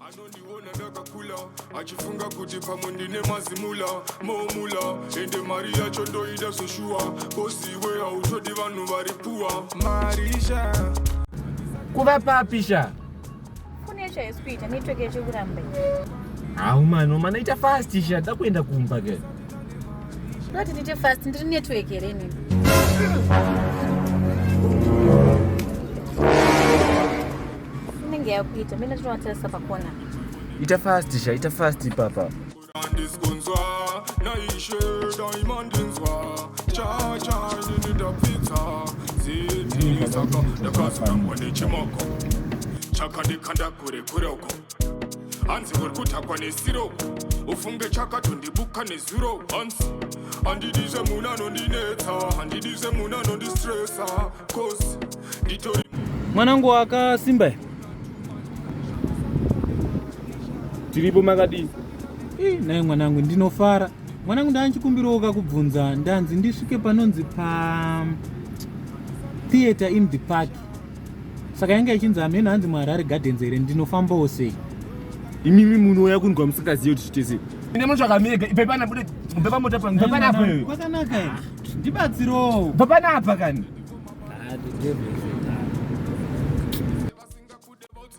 anondiona ndakakula achifunga kuti pamwe ndine mazimula momula ende mari yacho ndoida zveshuwa kosiwe hautodi vanhu vari puwa marisha kuva papi sha kune chaisi kuita network yachiri kuramba hau mano mana ita fast sha da kuenda kumba ke ndoti ndiite fast ndiri network here inini inenge yakuita mene tinovatarisa pakona ita fast sha ita fast ipapa ndakazorambwa nechimoko chakandikanda kure kure uko hanzi uri kutakwa nesiro ufunge chakatondibuka nezuro hanzi handidi zvemunhu anondinetsa handidi zvemunhu anondistresa cause nditori mwanangu wakasimba here tiripo makadii nai mwanangu ndinofara mwanangu ndanchikumbirawo kakubvunza ndanzi ndisvike panonzi pa theatre in the park saka yange ichinzi hameno hanzi muharare gardens here ndinofambawo sei imimi munouya kunzwa musingazive kuti zvitese ine munotsvaka mega ipepana bude pepa mota pano pepanapa kwakanaka ndibatsirowo pepanapa kani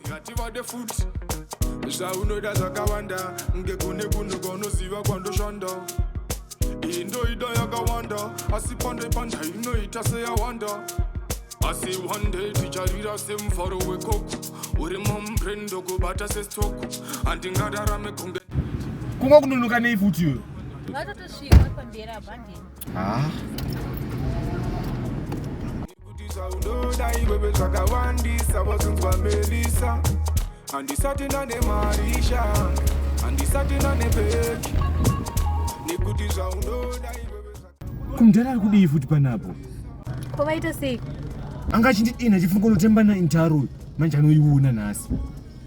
hativade futi zvaunoda zvakawanda ngekune kunhu kwaunoziva kwandoshanda iyi ndoida yakawanda asi pandai pandai inoita seyawanda asi one day ticharira semufaro wekoko uri mumbren ndokubata sestoko handingadarame kunge kunga kunonoka nei futi iyoyo Ah. kumdhara ari kudii futi panapo ko vaita sei anga achindidina chifungo notemba naintaro manje anoiona nhasi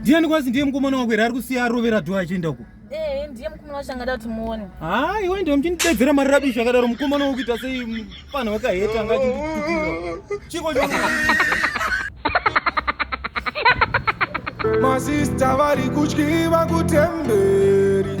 ndiani kwasi ndiye mukomana wako here ari kusiya arovera dho achienda uko eh, ndiye mukomana wacho angada kuti muone haa iwe ndiwe muchindidedzera mari rabishi akadaro mukomana wokuita sei mupanha wakaheta anga achindikuira chiko masista vari kutyiva kutemberi